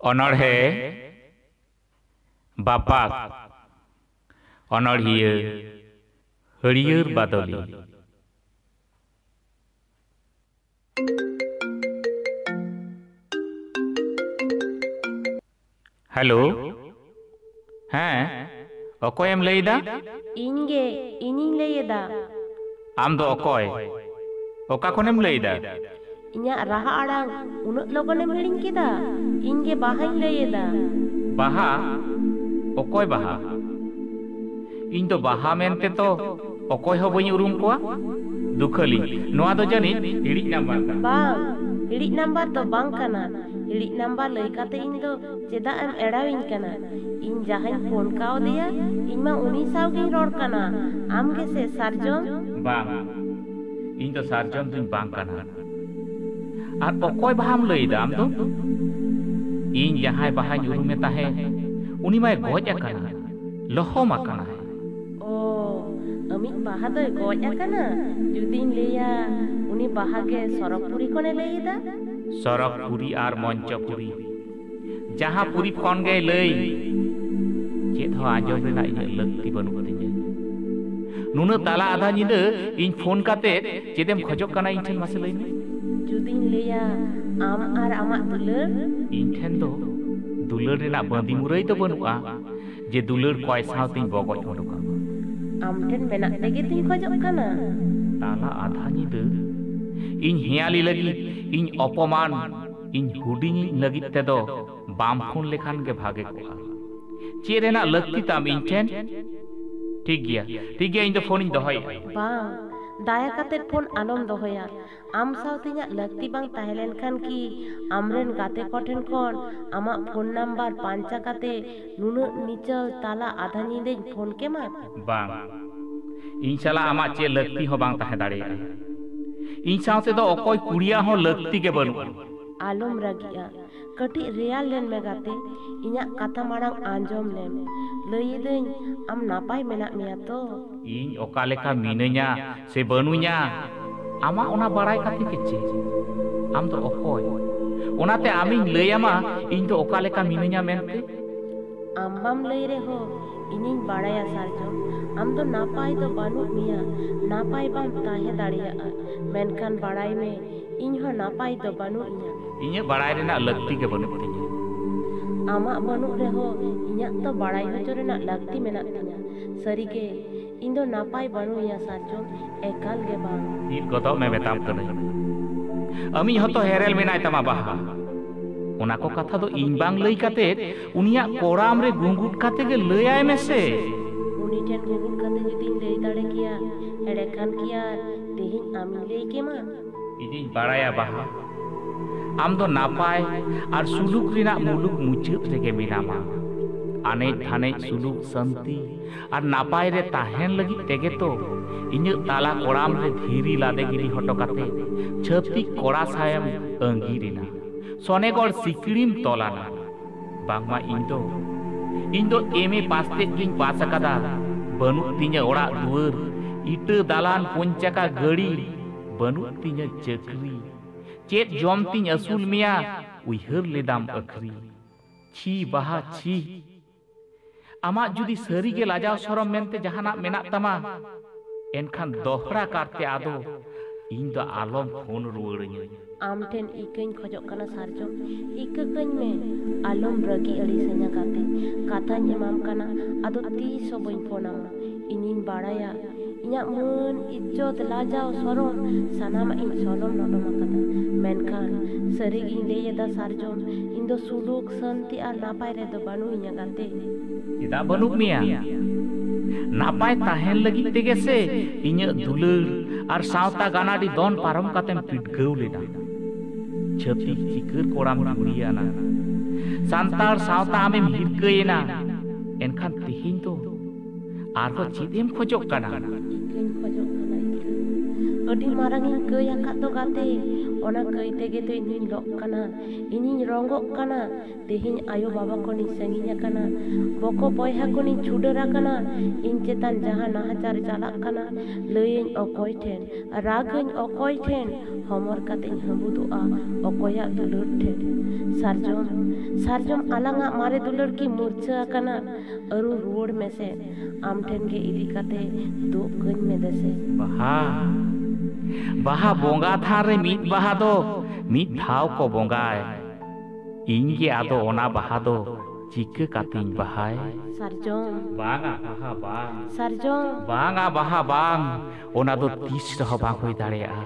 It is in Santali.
ᱚᱱᱚᱬᱦᱮ ᱵᱟᱯᱟᱠ ᱚᱱᱚᱬᱦᱤᱭᱟᱹ ᱦᱟᱹᱨᱭᱟᱹᱲ ᱵᱟᱫᱚᱞᱤ ᱦᱮᱞᱳ ᱦᱮᱸ ᱚᱠᱚᱭᱮᱢ ᱞᱟᱹᱭ ᱮᱫᱟ ᱤᱧ ᱜᱮ ᱤᱧᱤᱧ ᱞᱟᱹᱭ ᱮᱫᱟ ᱟᱢ ᱫᱚ ᱚᱠᱚᱭ ᱚᱠᱟ ᱠᱷᱚᱱᱮᱢ ᱞᱟᱹᱭ ᱮᱫᱟ ᱤᱧᱟᱹᱜ ᱨᱟᱦᱟ ᱟᱲᱟᱝ ᱩᱱᱟᱹᱜ ᱞᱚᱜᱚᱱᱮᱢ ᱦᱤᱲᱤᱧ ᱠᱮᱫᱟ ᱤᱧ ᱜᱮ ᱵᱟᱦᱟᱧ ᱞᱟᱹᱭ ᱮᱫᱟ ᱵᱟᱦᱟ ᱚᱠᱚᱭ ᱵᱟᱦᱟ ᱤᱧ ᱫᱚ ᱵᱟᱦᱟ ᱢᱮᱱᱛᱮ ᱛᱚ ᱚᱠᱚᱭ ᱦᱚᱸ ᱵᱟᱹᱧ ᱩᱨᱩᱢ ᱠᱚᱣᱟ ᱫᱩᱠᱷᱟᱹᱞᱤ ᱱᱚᱣᱟ ᱫᱚ ᱡᱟᱹᱱᱤᱡ ᱤᱲᱤᱡ ᱱᱟᱢᱵᱟᱨ ᱠᱟᱱᱟ ᱵᱟᱝ ᱤᱲᱤᱡ ᱱᱟᱢᱵᱟᱨ ᱫᱚ ᱵᱟᱝ ᱠᱟᱱᱟ ᱤᱲᱤᱡ ᱱᱟᱢᱵᱟᱨ ᱞᱟᱹᱭ ᱠᱟᱛᱮ ᱤᱧ ᱫᱚ ᱪᱮᱫᱟᱜ ᱮᱢ ᱮᱲᱟᱣᱤᱧ ᱠᱟᱱᱟ ᱤᱧ ᱡᱟᱦᱟᱸᱧ ᱯᱷᱳᱱ ᱠᱟᱣᱫᱮᱭᱟ ᱤᱧ ᱢᱟ ᱩᱱᱤ ᱥᱟᱶ ᱜᱤᱧ ᱨᱚᱲ ᱠᱟᱱᱟ ᱟᱢ ᱜᱮᱥᱮ ᱥᱟᱨᱡᱚᱢ ᱵᱟᱝ ᱤᱧ ᱫᱚ ᱥᱟᱨᱡᱚᱢ ᱫᱩᱧ ᱵᱟᱝ ᱠᱟᱱᱟ ᱟᱨ ᱚᱠᱚᱭ ᱵᱟᱦᱟᱢ ᱞᱟᱹᱭᱫᱟ ᱟᱢ ᱫᱚ ᱤᱧ ᱡᱟᱦᱟᱸᱭ ᱵᱟᱦᱟᱧ ᱩᱨᱩᱢᱮ ᱛᱟᱦᱮᱸ ᱩᱱᱤ ᱢᱟᱭ ᱜᱚᱡ ᱟᱠᱟᱱᱟ ᱞᱚᱦᱚᱢ ᱟᱠᱟᱱᱟᱭ ᱚ ᱟᱢᱤᱡ ᱵᱟᱦᱟ ᱫᱚᱭ ᱜᱚᱡ ᱟᱠᱟᱱᱟ ᱡᱩᱫᱤᱧ ᱞᱟᱹᱭᱟ ᱩᱱᱤ ᱵᱟᱦᱟ ᱜᱮ ᱥᱚᱨᱚᱜᱽᱯᱩᱨᱤ ᱠᱷᱚᱱᱮ ᱞᱟᱹᱭ ᱮᱫᱟ ᱥᱚᱨᱚᱜᱽᱯᱩᱨᱤ ᱟᱨ ᱢᱚᱧᱪᱚᱯᱩᱨᱤ ᱡᱟᱦᱟᱸ ᱯᱩᱨᱤ ᱠᱷᱚᱱ ᱜᱮᱭ ᱞᱟᱹᱭ ᱪᱮᱫ ᱦᱚᱸ ᱟᱸᱡᱚᱢ ᱨᱮᱱᱟᱜ ᱤᱧᱟᱹᱜ ᱞᱟᱹᱠᱛᱤ ᱵᱟᱹᱱᱩᱜ ᱛᱤᱧᱟᱹ ᱱᱩᱱᱟᱹᱜ ᱛᱟᱞᱟ ᱟᱫᱷᱟ ᱧᱤᱫᱟᱹ ᱤᱧ ᱯᱷᱳᱱ ᱠᱟᱛᱮ ᱪᱮᱫᱮᱢ ᱠᱷᱚᱡᱚᱜ ᱠᱟᱱᱟ ᱤᱧ ᱴᱷᱮᱱ ᱢᱟᱥᱮ ᱞᱟᱹᱭ ᱢᱮ ᱡᱩᱫᱤᱧ ᱞᱟᱹᱭᱟ ᱟᱢ ᱟᱨ ᱟᱢᱟᱜ ᱫᱩᱞᱟᱹᱲ ᱤᱧ ᱴᱷᱮᱱ ᱫᱚ ᱫᱩᱞᱟᱹᱲ ᱨᱮᱱᱟᱜ ᱵᱟᱸᱫᱤ ᱢᱩᱨᱟᱹᱭ ᱫᱚ ᱵᱟᱹᱱᱩᱜᱼᱟ ᱡᱮ ᱫᱩᱞᱟᱹᱲ ᱠᱚᱭ ᱥᱟᱶᱛᱮᱧ ᱵᱚᱜᱚᱡ ᱩᱰᱩᱠᱟ ᱟᱢ ᱴᱷᱮᱱ ᱢᱮᱱᱟᱜ ᱛᱮᱜᱮ ᱛᱤᱧ ᱠᱷᱚᱡᱚᱜ ᱠᱟᱱᱟ ᱛᱟᱞᱟ ᱟᱫᱷᱟ ᱧᱤᱫᱟᱹ ᱤᱧ ᱦᱮᱭᱟᱞᱤ ᱞᱟᱹᱜᱤᱫ ᱤᱧ ᱚᱯᱚᱢᱟᱱ ᱤᱧ ᱦᱩᱰᱤᱧᱤᱧ ᱞᱟᱹᱜᱤᱫ ᱛᱮᱫᱚ ᱵᱟᱢ ᱯᱷᱳᱱ ᱞᱮᱠᱷᱟᱱ ᱜᱮ ᱵᱷᱟᱜᱮ ᱠᱚᱜᱼᱟ ᱪᱮᱫ ᱨᱮᱱᱟᱜ ᱞᱟᱹᱠᱛᱤ ᱛᱟᱢ ᱤᱧ ᱴᱷᱮᱱ ᱴᱷᱤᱠ ᱜᱮᱭᱟ ᱴᱷᱤᱠ ᱜᱮᱭᱟ ᱤᱧ ᱫᱚ ᱯᱷᱳᱱᱤᱧ ᱫᱚᱦᱚᱭᱮᱫᱼᱟ ᱵᱟᱝ ᱫᱟᱭᱟ ᱠᱟᱛᱮ ᱯᱷᱳᱱ ᱟᱞᱚᱢ ᱫᱚᱦᱚᱭᱟ ᱟᱢ ᱥᱟᱶᱛᱮ ᱤᱧᱟᱹᱜ ᱞᱟᱹᱠᱛᱤ ᱵᱟᱝ ᱛᱟᱦᱮᱸ ᱞᱮᱱᱠᱷᱟᱱ ᱠᱤ ᱟᱢᱨᱮᱱ ᱜᱟᱛᱮ ᱠᱚ ᱴᱷᱮᱱ ᱠᱷᱚᱱ ᱟᱢᱟᱜ ᱯᱷᱳᱱ ᱱᱟᱢᱵᱟᱨ ᱯᱟᱧᱪᱟ ᱠᱟᱛᱮ ᱱᱩᱱᱟᱹᱜ ᱱᱤᱪᱚᱞ ᱛᱟᱞᱟ ᱟᱫᱷᱟ ᱧᱤᱫᱟᱹᱧ ᱯᱷᱳᱱ ᱠᱮᱢᱟ? ᱵᱟᱝ᱾ ᱤᱧ ᱥᱟᱞᱟᱜ ᱟᱢᱟᱜ ᱪᱮᱫ ᱞᱟᱹᱠᱛᱤ ᱦᱚᱸ ᱵᱟᱝ ᱛᱟᱦᱮᱸ ᱫᱟᱲᱮᱭᱟᱜᱼᱟ᱾ ᱤᱧ ᱥᱟᱶᱛᱮ ᱫᱚ ᱚᱠᱚᱭ ᱠᱩᱲᱤᱭᱟᱜ ᱦᱚᱸ ᱞᱟᱹᱠᱛᱤ ᱜᱮ ᱵᱟᱹᱱᱩᱜᱼᱟ᱾ ᱟᱞᱚᱢ ᱨᱟᱹᱜᱤᱜᱼᱟ᱾ ᱠᱟᱹᱴᱤᱡ ᱨᱮᱭᱟᱲ ᱞᱮᱱ ᱢᱮ ᱜᱟᱛᱮ᱾ ᱤᱧᱟᱹᱜ ᱠᱟᱛᱷᱟ ᱢᱟᱲᱟᱝ ᱟᱸᱡᱚᱢ ᱞᱮᱢ᱾ ᱞᱟᱹᱭ ᱮᱫᱟᱹᱧ ᱟᱢ ᱱᱟᱯᱟᱭ ᱢᱮᱱᱟᱜ ᱢᱮᱭᱟ ᱛᱚ? ᱤᱧ ᱚᱠᱟ ᱞᱮᱠᱟ ᱢᱤᱱᱟᱹᱧᱟ ᱥᱮ ᱵᱟᱹᱱᱩᱧᱟ ᱟᱢᱟᱜ ᱚᱱᱟ ᱵᱟᱲᱟᱭ ᱠᱟᱛᱮ ᱜᱮ ᱪᱮᱫ ᱟᱢ ᱫᱚ ᱚᱠᱚᱭ ᱚᱱᱟᱛᱮ ᱟᱢᱤᱧ ᱞᱟᱹᱭ ᱟᱢᱟ ᱤᱧ ᱫᱚ ᱚᱠᱟ ᱞᱮᱠᱟ ᱢᱤᱱᱟᱹᱧᱟ ᱢᱮᱱᱛᱮ ᱟᱢ ᱵᱟᱢ ᱞᱟᱹᱭ ᱨᱮᱦᱚᱸ ᱤᱧᱤᱧ ᱵᱟᱲᱟᱭᱟ ᱥᱟᱨᱡᱚᱢ ᱟᱢ ᱫᱚ ᱱᱟᱯᱟᱭ ᱫᱚ ᱵᱟᱹᱱᱩᱜ ᱢᱮᱭᱟ ᱱᱟᱯᱟᱭ ᱵᱟᱢ ᱛᱟᱦᱮᱸ ᱫᱟᱲᱮᱭᱟᱜᱼᱟ ᱢᱮᱱᱠᱷᱟᱱ ᱵᱟᱲᱟᱭ ᱢᱮ ᱤᱧ ᱦᱚᱸ ᱱᱟᱯᱟᱭ ᱫᱚ ᱵᱟᱹᱱᱩᱜ ᱤᱧᱟ ᱤᱧᱟᱹᱜ ᱵᱟᱲᱟᱭ ᱨᱮᱱᱟᱜ ᱞᱟᱹᱠᱛᱤ ᱜᱮ ᱵᱟᱹᱱᱩᱜ ᱛᱤᱧᱟ ᱟᱢᱟᱜ ᱵᱟᱹᱱᱩᱜ ᱨᱮᱦᱚᱸ ᱤᱧᱟᱹᱜ ᱫᱚ ᱵᱟᱲᱟᱭ ᱦᱚᱪᱚ ᱨᱮᱱᱟᱜ ᱞᱟᱹᱠᱛᱤ ᱢᱮᱱᱟᱜ ᱛᱤᱧᱟ ᱥᱟᱹᱨᱤᱜᱮ ᱤᱧ ᱫᱚ ᱱᱟᱯᱟᱭ ᱵᱟᱹᱱᱩᱧᱟ ᱥᱟᱨᱡᱚᱢ ᱮᱠᱟᱞ ᱜᱮ ᱵᱟᱝ ᱤᱫ ᱜᱚᱫᱚᱜ ᱢᱮ ᱢᱮᱛᱟᱢ ᱠᱟᱹᱱᱟᱹᱧ ᱟᱢᱤᱡ ᱦᱚᱸᱛᱚ ᱦᱮᱨᱮᱞ ᱢᱮᱱᱟᱭ ᱛᱟᱢᱟ ᱵᱟᱦᱟ ᱚᱱᱟ ᱠᱚ ᱠᱟᱛᱷᱟ ᱫᱚ ᱤᱧ ᱵᱟᱝ ᱞᱟᱹᱭ ᱠᱟᱛᱮ ᱩᱱᱤᱭᱟᱜ ᱠᱚᱲᱟᱢ ᱨᱮ ᱜᱩᱸᱜᱩᱴ ᱠᱟᱛᱮ ᱜᱮ ᱞᱟᱹᱭᱟᱭ ᱢᱮᱥᱮ ᱩᱱᱤ ᱴᱷᱮᱱ ᱜᱩᱸᱜᱩᱴ ᱠᱟᱛᱮ ᱡᱩᱫᱤᱧ ᱞᱟᱹᱭ ᱫᱟᱲᱮ ᱠᱮᱭᱟ ᱮᱲᱮ ᱠᱷᱟᱱ ᱠᱤ ᱟᱨ ᱛᱮᱦᱮᱧ ᱟᱢᱤᱧ ᱞᱟᱹᱭ ᱠᱮᱢᱟ ᱤᱧᱤᱧ ᱵᱟᱲᱟᱭᱟ ᱵᱟᱦᱟ ᱟᱢ ᱫᱚ ᱱᱟᱯᱟᱭ ᱟᱨ ᱥᱩᱞᱩᱠ ᱨᱮᱱᱟᱜ ᱢᱩᱞᱩᱠ ᱢᱩᱪᱟᱹᱫ ᱨᱮᱜᱮ ᱢᱮᱱᱟᱢᱟ ᱟᱱᱮᱡ ᱫᱷᱟᱱᱮᱡ ᱥᱩᱞᱩᱠ ᱥᱟᱱᱛᱤ ᱟᱨ ᱱᱟᱯᱟᱭ ᱨᱮ ᱛᱟᱦᱮᱱ ᱞᱟᱹᱜᱤᱫ ᱛᱮᱜᱮ ᱛᱚ ᱤᱧᱟᱹᱜ ᱛᱟᱞᱟ ᱠᱚᱲᱟᱢ ᱨᱮ ᱫᱷᱤᱨᱤ ᱞᱟᱫᱮ ᱜᱤᱰᱤ ᱦᱚᱴᱚ ᱠᱟᱛᱮ ᱪᱷᱟᱹᱛᱤᱠ ᱠᱚᱲᱟ ᱥᱟᱶᱮᱢ ᱟᱺᱜᱤᱨ ᱮᱱᱟ᱾ ᱥᱚᱱᱮᱜᱚᱲ ᱥᱤᱠᱲᱤᱢ ᱛᱚᱞ ᱟᱱᱟ᱾ ᱵᱟᱝᱢᱟ ᱤᱧ ᱫᱚ ᱤᱧ ᱫᱚ ᱮᱢ ᱮ ᱯᱟᱥ ᱛᱮᱫ ᱜᱤᱧ ᱯᱟᱥ ᱟᱠᱟᱫᱟ᱾ ᱵᱟᱹᱱᱩᱜ ᱛᱤᱧᱟᱹ ᱚᱲᱟᱜ ᱫᱩᱣᱟᱹᱨ, ᱤᱴᱟᱹ ᱫᱟᱞᱟᱱ, ᱯᱩᱱᱪᱟᱠᱟ ᱜᱟᱹᱰᱤ᱾ ᱵᱟᱹᱱᱩᱜ ᱛᱤᱧᱟᱹ ᱪᱟᱹᱠᱨᱤ᱾ ᱪᱮᱫ ᱡᱚᱢ ᱛᱤᱧ ᱟᱹᱥᱩᱞ ᱢᱮᱭᱟ ᱩᱭᱦᱟᱹᱨ ᱞᱮᱫᱟᱢ ᱟᱹᱠᱷᱨᱤ᱾ ᱪᱷᱤ ᱵᱟᱦᱟ ᱪᱷᱤ᱾ ᱟᱢᱟᱜ ᱡᱩᱫᱤ ᱥᱟᱹᱨᱤ ᱜᱮ ᱞᱟᱡᱟᱣ ᱥᱚᱨᱚᱢ ᱢᱮᱱᱛᱮ ᱡᱟᱦᱟᱱᱟᱜ ᱢᱮᱱᱟᱜ ᱛᱟᱢᱟ, ᱮᱱᱠᱷᱟᱱ ᱫᱚᱦᱲᱟ ᱠᱟᱨᱛᱮ ᱟᱫᱚ ᱤᱧ ᱫᱚ ᱟᱞᱚᱢ ᱯᱷᱳᱱ ᱨᱩᱣᱟᱹᱲ ᱟᱹᱧᱟᱹ᱾ ᱟᱢ ᱴᱷᱮᱱ ᱤᱠᱟᱹᱧ ᱠᱷᱚᱡᱚᱜ ᱠᱟᱱᱟ ᱥᱟᱨᱡᱚᱢ᱾ ᱤᱠᱟᱹ ᱠᱟᱹᱧ ᱢᱮ᱾ ᱟᱞᱚᱢ ᱨᱟᱹᱜᱤ ᱟᱹᱲᱤᱥ ᱟᱹᱧᱟ ᱜᱟᱛᱮ᱾ ᱠᱟᱛᱷᱟᱧ ᱮᱢᱟᱢ ᱠᱟᱱᱟ, ᱟᱫᱚ ᱛᱤᱥ ᱦᱚᱸ ᱵᱟᱹᱧ ᱯᱷᱳᱱ ᱟᱢᱟ᱾ ᱤᱧᱤᱧ ᱵᱟᱲᱟᱭᱟ ᱤᱧᱟᱹᱜ ᱢᱟᱹᱱ ᱤᱡᱽᱡᱚᱛ ᱞᱟᱡᱟᱣ ᱥᱚᱨᱚᱢ ᱥᱟᱱᱟᱢᱟᱜ ᱤᱧ ᱥᱚᱨᱚᱢ ᱞᱚᱴᱚᱢ ᱟᱠᱟᱫᱟ ᱢᱮᱱᱠᱷᱟᱱ ᱥᱟᱹᱨᱤᱜᱤᱧ ᱞᱟᱹᱭ ᱮᱫᱟ ᱥᱟᱨᱡᱚᱢ ᱤᱧ ᱫᱚ ᱥᱩᱞᱩᱠ ᱥᱟᱹᱱᱛᱤ ᱟᱨ ᱱᱟᱯᱟᱭ ᱨᱮᱫᱚ ᱵᱟᱹᱱᱩᱜ ᱤᱧᱟ ᱜᱟᱛᱮ ᱪᱮᱫᱟᱜ ᱵᱟᱹᱱᱩᱜ ᱢᱮᱭᱟ ᱱᱟᱯᱟᱭ ᱛᱟᱦᱮᱱ ᱞᱟᱹᱜᱤᱫ ᱛᱮᱜᱮ ᱥᱮ ᱤᱧᱟᱹᱜ ᱫᱩᱞᱟᱹᱲ ᱟᱨ ᱥᱟᱶᱛᱟ ᱜᱟᱱᱟᱰᱤ ᱫᱚᱱ ᱯᱟᱨᱚᱢ ᱠᱟᱛᱮᱢ ᱯᱤᱰᱜᱟᱹᱣ ᱞᱮᱱᱟ ᱪᱷᱟᱹᱛᱤᱠ ᱪᱤᱠᱟᱹᱨ ᱠᱚᱲᱟᱢ ᱡᱩᱲᱤᱭᱟᱱᱟ ᱥᱟᱱᱛᱟᱲ ᱥᱟᱶᱛᱟ ᱟᱢᱮᱢ ᱦᱤᱨᱠᱟᱹᱭᱮᱱᱟ ᱮᱱᱠᱷᱟᱱ ᱛᱮᱦᱮᱧ ᱫᱚ ᱟᱨᱦᱚᱸ ᱪᱮᱫ ᱮᱢ ᱠᱷᱚᱡᱚᱜ ᱠᱟᱱᱟ ᱤᱠᱟᱹᱧ ᱠᱷᱚᱡᱚᱜ ᱠᱟᱱᱟ ᱤᱠᱟᱹ ᱟᱹᱰᱤ ᱢᱟᱨᱟᱝ ᱤᱧ ᱠᱟᱹᱭ ᱟᱠᱟᱫ ᱫᱚ ᱜᱟᱛᱮ ᱚᱱᱟ ᱠᱟᱹᱭ ᱛᱮᱜᱮ ᱛᱚ ᱤᱧᱤᱧ ᱞᱚᱜ ᱠᱟᱱᱟ ᱤᱧᱤᱧ ᱨᱚᱸᱜᱚᱜ ᱠᱟᱱᱟ ᱛᱮᱦᱮᱧ ᱟᱭᱳ ᱵᱟᱵᱟ ᱠᱷᱚᱱᱤᱧ ᱥᱟᱺᱜᱤᱧ ᱟᱠᱟᱱᱟ ᱵᱚᱠᱚ ᱵᱚᱭᱦᱟ ᱠᱷᱚᱱᱤᱧ ᱪᱷᱩᱰᱟᱹᱨ ᱟᱠᱟᱱᱟ ᱤᱧ ᱪᱮᱛᱟᱱ ᱡᱟᱦᱟᱸ ᱱᱟᱦᱟᱪᱟᱨ ᱪᱟᱞᱟᱜ ᱠᱟᱱᱟ ᱞᱟᱹᱭᱟᱹᱧ ᱚᱠᱚᱭ ᱴᱷᱮᱱ ᱨᱟᱜᱟᱹᱧ ᱚᱠᱚᱭ ᱴᱷᱮᱱ ᱦᱚᱢᱚᱨ ᱠᱟᱛᱮᱧ ᱦᱟᱹᱵᱩᱫᱚᱜᱼᱟ ᱚᱠᱚᱭᱟᱜ ᱫᱩᱞᱟᱹᱲ ᱴᱷᱮᱱ ᱥᱟᱨᱡᱚᱢ ᱥᱟᱨᱡᱚᱢ ᱟᱞᱟᱝᱟᱜ ᱢᱟᱨᱮ ᱫᱩᱞᱟᱹᱲ ᱠᱤ ᱢᱩᱨᱪᱷᱟᱹ ᱟᱠᱟᱱᱟ ᱟᱹᱨᱩ ᱨᱩᱣᱟᱹᱲ ᱢᱮᱥᱮ ᱟᱢ ᱴᱷᱮᱱ ᱜᱮ ᱤᱫᱤ ᱠᱟᱛᱮ ᱫᱩᱜ ᱠᱟᱹᱧ ᱢᱮ ᱫᱮᱥᱮ ᱵᱟᱦᱟ ᱵᱟᱦᱟ ᱵᱚᱸᱜᱟ ᱛᱷᱟᱱ ᱨᱮ ᱢᱤᱫ ᱵᱟᱦᱟ ᱫᱚ ᱢᱤᱫ ᱫᱷᱟᱣ ᱠᱚ ᱵᱚᱸᱜᱟᱭ ᱤᱧ ᱜᱮ ᱟᱫᱚ ᱚᱱᱟ ᱵᱟᱦᱟ ᱫᱚ ᱪᱤᱠᱟᱹ ᱠᱟᱛᱮᱧ ᱵᱟᱦᱟᱭ ᱥᱟᱨᱡᱚᱢ ᱵᱟᱝᱟ ᱵᱟᱦᱟ ᱵᱟᱝ ᱥᱟᱨᱡᱚᱢ ᱵᱟᱝᱟ ᱵᱟᱦᱟ ᱵᱟᱝ ᱚᱱᱟ ᱫᱚ ᱛᱤᱥ ᱨᱮᱦᱚᱸ ᱵᱟᱝ ᱦᱩᱭ ᱫᱟᱲᱮᱭᱟᱜᱼᱟ